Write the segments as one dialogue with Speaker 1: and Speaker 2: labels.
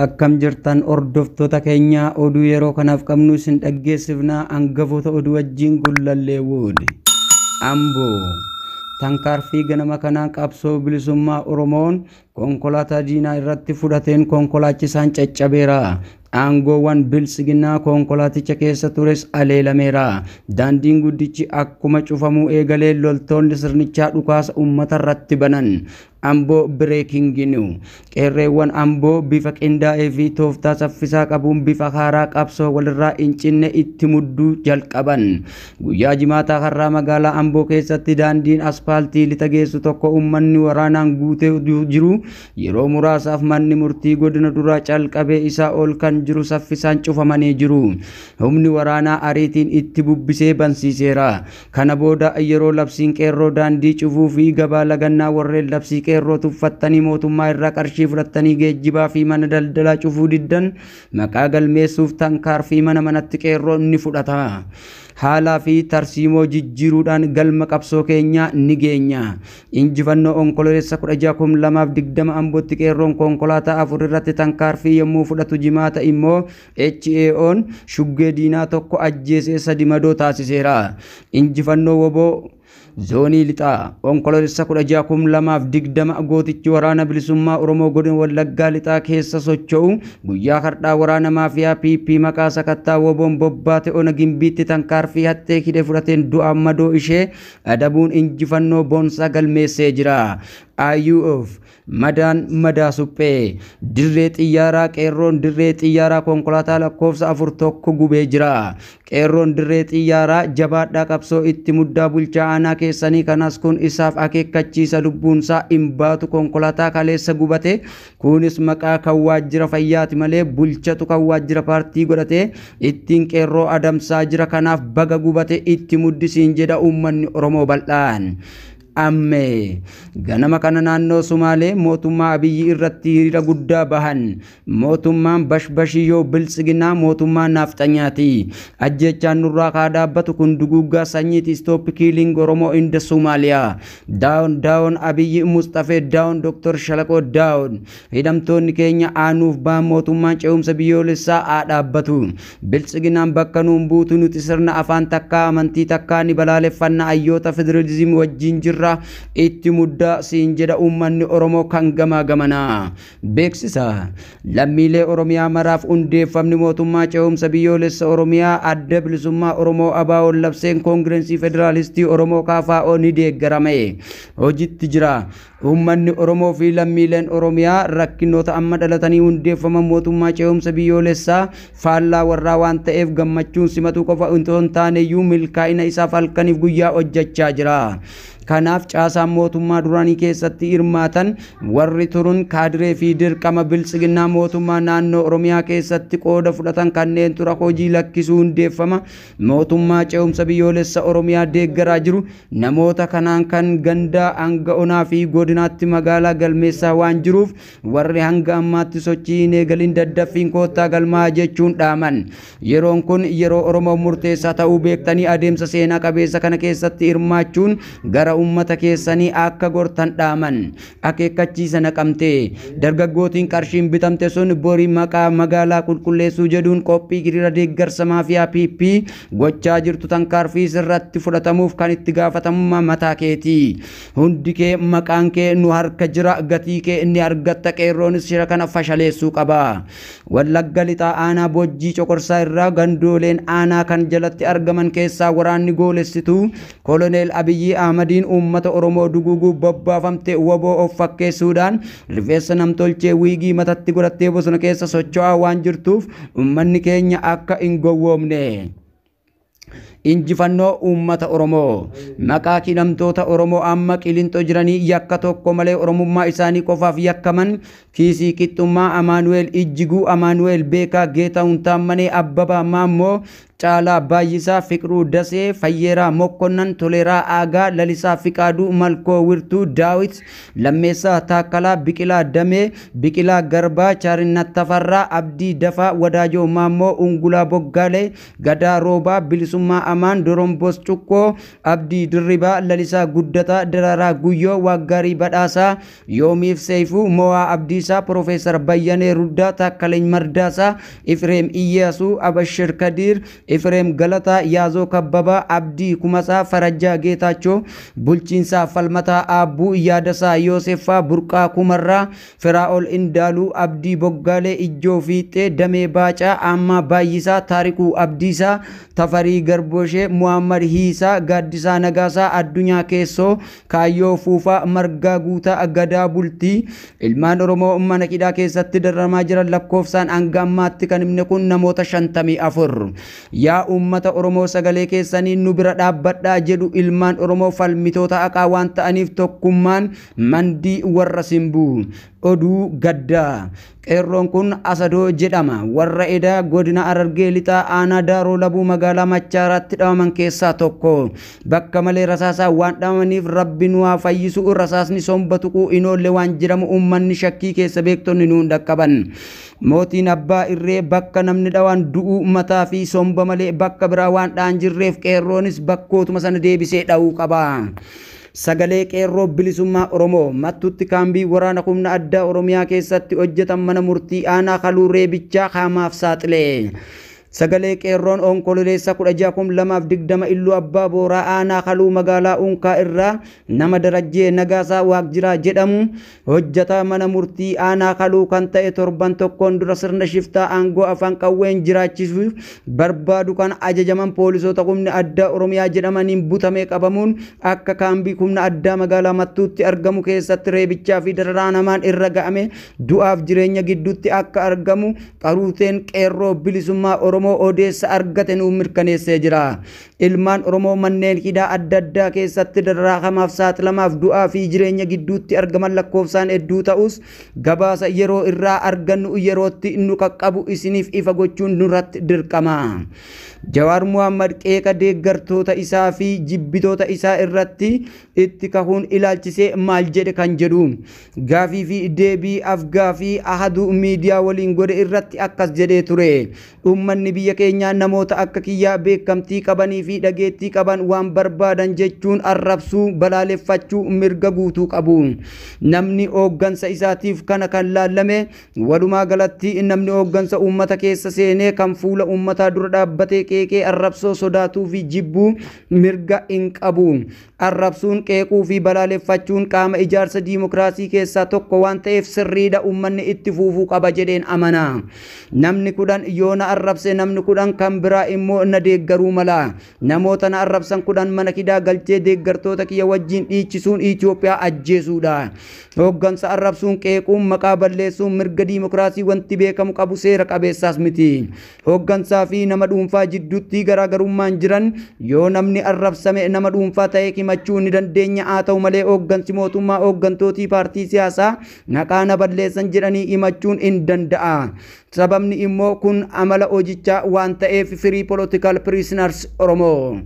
Speaker 1: Akkam jirtan hordoftoota keenyaa oduu yeroo kanaaf qabnu isin dhaggeessifnaa hangafoota oduu wajjin gullallee wood. Amboo tankaarfii ganama kanaan qabsoo bilisummaa Oromoon konkolaataa diinaa irratti fudhateen konkolaachisaan caccabeera. Aangoowwan bilsiginaa konkolaaticha keessa tures aleelameera. Daandiin guddichi akkuma cufamuu eegalee loltoonni sirnichaa dhukaasa uummata irratti banan. Amboo Breaking New Qeerreewwan Amboo bifa qindaa'ee fi tooftaa saffisaa qabuun bifa haaraa qabsoo walirraa hin cinne itti mudduu jalqaban. Guyyaa jimaataa har'aa magaalaa Amboo keessatti daandiin aspaaltii lixa geessu tokko uummanni waraanaan guutee jiru yeroo muraasaaf manni murtii godina duraa calqabee isaa ol kan jiru saffisaan cufamanii jiru. Humni waraanaa ariitiin itti bubbisee bansiiseera. Kana booda yeroo labsiin qeerroo daandii cufuu fi gabaa lagannaa warreen labsii qeerroo tuffattanii mootummaa irraa qarshii fudhattanii geejjibaa fi mana daldalaa cufuu diddan maqaa galmeessuuf tankaar fi mana manatti qeerroon ni fudhata. Haalaa fi tarsiimoo jijjiiruudhaan galma qabsoo keenyaa ni geenya. Injifannoo Onkololeessa 16 kum 2 fi 20 Ambotti qeerroon konkolaataa afur irratti tankaar fi yommuu fudhatu Jimaata immoo HAOn shuggee diinaa tokko ajjeesee sadi madoo taasiseera. Injifannoo woboo Zoonii Lixaa Onkoloolessa 16,2020 gootichi waraana bilisummaa Oromoo godina Wallaggaa Lixaa keessa socho'u guyyaa har'aa waraana maafiyaa PP maqaa sakattaa woboon bobbaate ona gimbiitti tankaarfii haxxee hidhe fudhateen du'aan madoo ishee adabuun injifannoo boonsaa galmeessee jira. IUF Madaan madaa suphee. Dirree xiyyaaraa qeerroon dirree xiyyaaraa konkolaataa lakkoofsa afur tokko gubee jira. Qeerroon dirree xiyyaaraa jabaadhaa qabsoo itti muddaa bulchaa aanaa keessanii kanas kun isaaf akeekkachiisa lubbuunsaa hin baatu konkolaataa kaleessa gubate kunis maqaa kan waajjira fayyaati malee bulchatu kan waajjira paartii godhate ittiin qeerroo adamsaa jira kanaaf baga gubate itti muddisiin jedha uummanni Oromoo bal'aan. Ammee. Ganama kana naannoo Sumaalee mootummaa Abiyyi irratti hiriira guddaa bahan. Mootummaan bashbashii yoo biltsiginaa mootummaa naafxanyaati. Ajjeechaan nurraa kaa dhaabbatu kun duguuggaa sanyiiti stop killing Oromoo in the Somalia. Down down Abiyyi Musxafee down Dr. Shalaqoo down. Hidhamtoonni keenya aanuuf baan mootummaan ce'umsa biyyoolessaa haa dhaabbatu. Biltsiginaan bakka nuun buutu nuti sirna afaan takkaa amantii takkaa ni balaaleffanna ayyoota federalism wajjiin jirra itti muddaa siin jedha uummanni Oromoo kan gamaa gamanaa. Beeksisa Lammiilee Oromiyaa maraaf hundeeffamni mootummaa ce'umsa biyyoolessa Oromiyaa Adda Bilisummaa Oromoo ABOn labseen Koongirensii Federaalistii Oromoo KFO ni deeggarame. Hojitti jira. Uummanni Oromoo fi lammiileen Oromiyaa rakkinoota amma dhalatanii hundeeffaman mootummaa ce'umsa biyyoolessaa faallaa warraa waan ta'eef gammachuun simatuu qofa itoo hin taaneyyuu milkaa'ina isaaf halkaniif guyyaa hojjechaa jira. Kanaaf caasaan mootummaa duraanii keessatti hirmaatan warri turun kaadiree fi dirqama biltsiginnaa mootummaa naannoo Oromiyaa keessatti qooda fudhatan kanneentu rakoo hojii lakkisuu hundeeffama Mootummaa ce'umsa biyyoolessa Oromiyaa deeggaraa jiru namoota kanaan kan gandaa hanga onaa fi godinaatti magaalaa galmeessaa waan jiruuf warri hanga ammaatti sochii hin eegalin daddaffiin koottaa galmaa jechuun dhaaman. Yeroon kun yeroo Oromoof murteessaa ta'uu beektanii adeemsa seenaa qabeessa kana keessatti hirmaachuun gara uummata keessanii akka gortan dhaaman. Akeekkachiisa Naqamtee, Dargaggootiin qarshiin bitamte sun bori maqaa magaalaa qulqulleessuu jedhuun qophii hiriira deeggarsa maafiyaa PP gochaa jirtu tankaarfii sirratti fudhatamuuf kan itti gaafatamummaa mataa keeti. Hundi kee maqaan kee nu harka jira gatii kee ni argatta qeerroonis shira kana fashaleessuu qaba. Wallagga Lixaa Aanaa Bojjii Coqorsaa irraa gandooleen aanaa kan jalatti argaman keessaa waraanni goolessituu Koloneel Abiyyii Ahmadiin uummata Oromoo duguuguuf bobbaafamte wbo of fakkeessuudhaan rifeensa namtolchee wiigii matatti godhattee bosona keessa socho'aa waan jirtuuf uummanni keenya akka hin gowwoomne. Injifannoo uummata Oromoo maqaa hidhamtoota Oromoo amma qilinxoo jiranii yakka tokko malee Oromummaa isaanii qofaaf yakkaman Kiisii Qixxummaa, Amaanu'eel Ijjiguu, Amaanu'eel Beekaa, Geetaahun Taammanee, Abbabaa Maammoo, Caalaa Baayyisaa, Fiqruu Dasee, Fayyeeraa Mokkonnan, Toleeraa Aagaa, Lalisaa Fiqaaduu, Malkoo Wirtuu, Daawit, Lammeessaa Taakkalaa, Biqilaa Damee, Biqilaa Garbaa, Chaarinnat Tafarraa, Abdii Dafaa, Wadaajoo Maammoo, Ungulaa Boggaalee, Gadaa Roobaa, Bilisummaa Amaan, Doromboos Cuqqoo, Abdii Dirribaa, Lalisaa Guddataa, Daraaraa Guyyoo, Waaqgaarii Badhaasaa, Yoomiif Seeyfuu, Mowaa Abdiisaa, Pirofeesar Bayyanee Ruddaa, Taakkaleny Mardaasaa, Ifireem Iyyaasuu, Abashir Kadiir, Ifireem Galataa, Yaazoo Kabbabaa, Abdii Kumasaa, Farajjaa Geetaachoo, Bulchiinsaa Falmataa Aabbuu, Yaadasaa Yooseffaa, Burqaa Kumarraa, Firaa'ol Indaaluu, Abdii Boggaalee, Ijjoo Fiixxee, Damee Baacaa, Aammaa Baayyisaa, Taarikuu Abdiisaa, Tafarii Garboshee, Muhaammad Hiisaa, Gaaddisaa Nagaasaa, Addunyaa Keessoo, Kaayyoo Fuufaa Margaa Guutaa Gadaa Bultii ilmaan Oromoo mana hidhaa keessatti dararamaa jiran lakkoofsaan hanga ammaatti kan himne kun namoota 54. Yaa uummata Oromoo sagalee keessaniin nu bira dhaabbadhaa jedhu ilmaan Oromoo falmitoota haqaa waan ta'aniif tokkummaan mandii warra simbuu. Oduu gaddaa. Qeerroon kun Asadoo jedhama. Warra eda godina Harargee Lixaa aanaa Daaroo Labuu magaalaa Machaaraatti dhawaman keessaa tokko. Bakka malee rasaasaan waan dhawamaniif Rabbi nu haa fayyisu, rasaasni somba tuquu hin oolle waan jedhamu uummanni shakkii keessa beektonni nuun dhaqqaban. Mootiin Abbaa Irree bakka namni dhawaan du'uu mataa fi somba malee bakka biraa waan dha'an jirreef qeerroonis bakkootuma sana deebisee dhawuu qaba. Sagalee Qeerroo Bilisummaa Oromoo. Mattuutti Kaambii Waraana Humna Addaa Oromiyaa keessatti hojjetan Mana Murtii Aanaa Kaluu Reebichaa Haamaaf Saaxile. Sagalee Qeerroon Onkololeessa 16,2020 Iluu Abbaa Booraa Aanaa Kaluu Magaalaa Unkaa irraa nama Darajjee Nagaasaa Waaqjiraa jedhamu Hojjataa mana murtii aanaa kaluu kan ta'e torban tokkoon dura sirna shiftaa aangoo afaan qawween jiraachisuuf barbaadu kan ajajaman poolisoota humni addaa Oromiyaa jedhamaniin butamee qabamuun akka kaambii humna addaa magaalaa Mattuutti argamu keessatti reebichaa fi dararaan hamaan irra ga'amee du'aaf jireenya gidduutti akka argamu qaruuteen Qeerroo Bilisummaa Oromoo odeessa argate nuuf mirkaneessee jira. Ilmaan Oromoo manneen hidhaa adda addaa keessatti dararaakamaaf saaxilamaaf du'aa fi jireenya gidduutti argaman lakkoofsaan hedduu ta'us gabaasa yeroo irraa argannu yerootti nu qaqqabu isiniif ifa gochuun nurratti dirqama. Jawaar Muhammad qeeqa deeggartoota isaa fi jibbitoota isaa irratti itti kahuun ilaalchisee maal jedhe kan jedhu gaafii fi deebii afgaafii Ahaduu Miidiyaa waliin godhe irratti akkas jedhee ture. Uummanni biyya keenyaa namoota akka kiyyaa beekamtii qabanii fi dhageettii qaban waan barbaadan jechuun arrabsuu, balaaleffachuu mirga guutuu qabu. Namni hooggansa isaatiif kana kan laallame, walumaa galatti namni hooggansa uummata keessa seenee kan fuula uummataa dura dhaabbatee qeeqee arrabsoo sodaatuu fi jibbu mirga hin qabu. Arrabsuun, qeequu fi balaaleffachuun qaama ijaarsa diimokiraasii keessaa tokko waan ta'eef sirriidha uummanni itti fuufuu qaba jedheen amana. Namni kudhan yoo na arrabse namni kudhan kan biraa immoo na deeggaruu mala. Namoota na arrabsan kudhan mana hidhaa galchee deeggartoota kiyya wajjin dhiichisuun Itoophiyaa ajjeesuudha. Hooggansa arrabsuun, qeequun, maqaa balleessuun mirga diimokiraasii wanti beekamu qabu seera qabeessaas miti. Hooggansaa fi nama dhuunfaa jidduutti garaagarummaan jiran yoo namni arrabsame nama dhuunfaa ta'ee himachuu ni dandeenya haa ta'u malee hooggansi mootummaa hooggantootii paartii siyaasaa naqaa na balleessan jedhanii himachuun hin danda'a. Sababni immoo kun amala hojichaa waan ta'eef firii political prisoners Oromoo.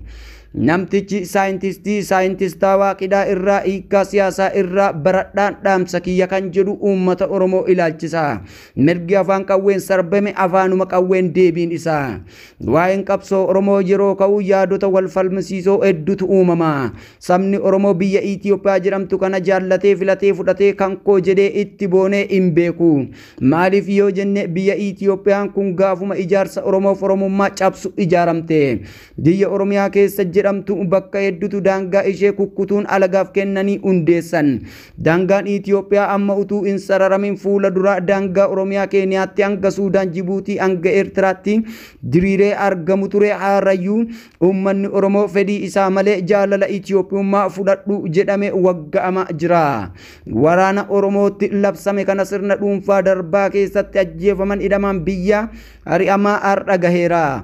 Speaker 1: Namtichi saayintistii saayintistaawaa qidhaa irraa hiikkaa siyaasaa irraa baradhaan dhaamsa kiyya kan jedhu uummata Oromoo ilaalchisa. Mirgi afaan qawween sarbame afaanuma qawween deebiin isaa. Waa'een qabsoo Oromoo yeroo ka'u yaadota wal falmisiisoo heddutu uumama. Sabni Oromoo biyya Itoophiyaa jedhamtu kana jaallatee filatee fudhatee kan koo jedhee itti boonee hin beeku. Maaliif yoo jenne biyya Itoophiyaan kun gaafuma ijaarsa Oromoof Oromummaa cabsu ijaaramte. Biyya Oromiyaa keessa jedhamtu bakka heddutu daangaa ishee kukkutuun alagaaf kennanii hundeessan. Daangaan Itiyoophiyaa amma utuu hin sararamin fuula dura daangaa Oromiyaa Keeniyaatti hanga Suudaan Jibuutii hanga Eertiraatti diriiree argamu ture haarayyuu uummanni Oromoo fedhii isaa malee jaalala Itiyoophiyummaa fudhadhu jedhame wagga'amaa jira. Waraana Oromootti labsame kana sirna dhuunfaa darbaa keessatti ajjeefaman hidhamaan biyyaa ari'amaa har'a gaheera.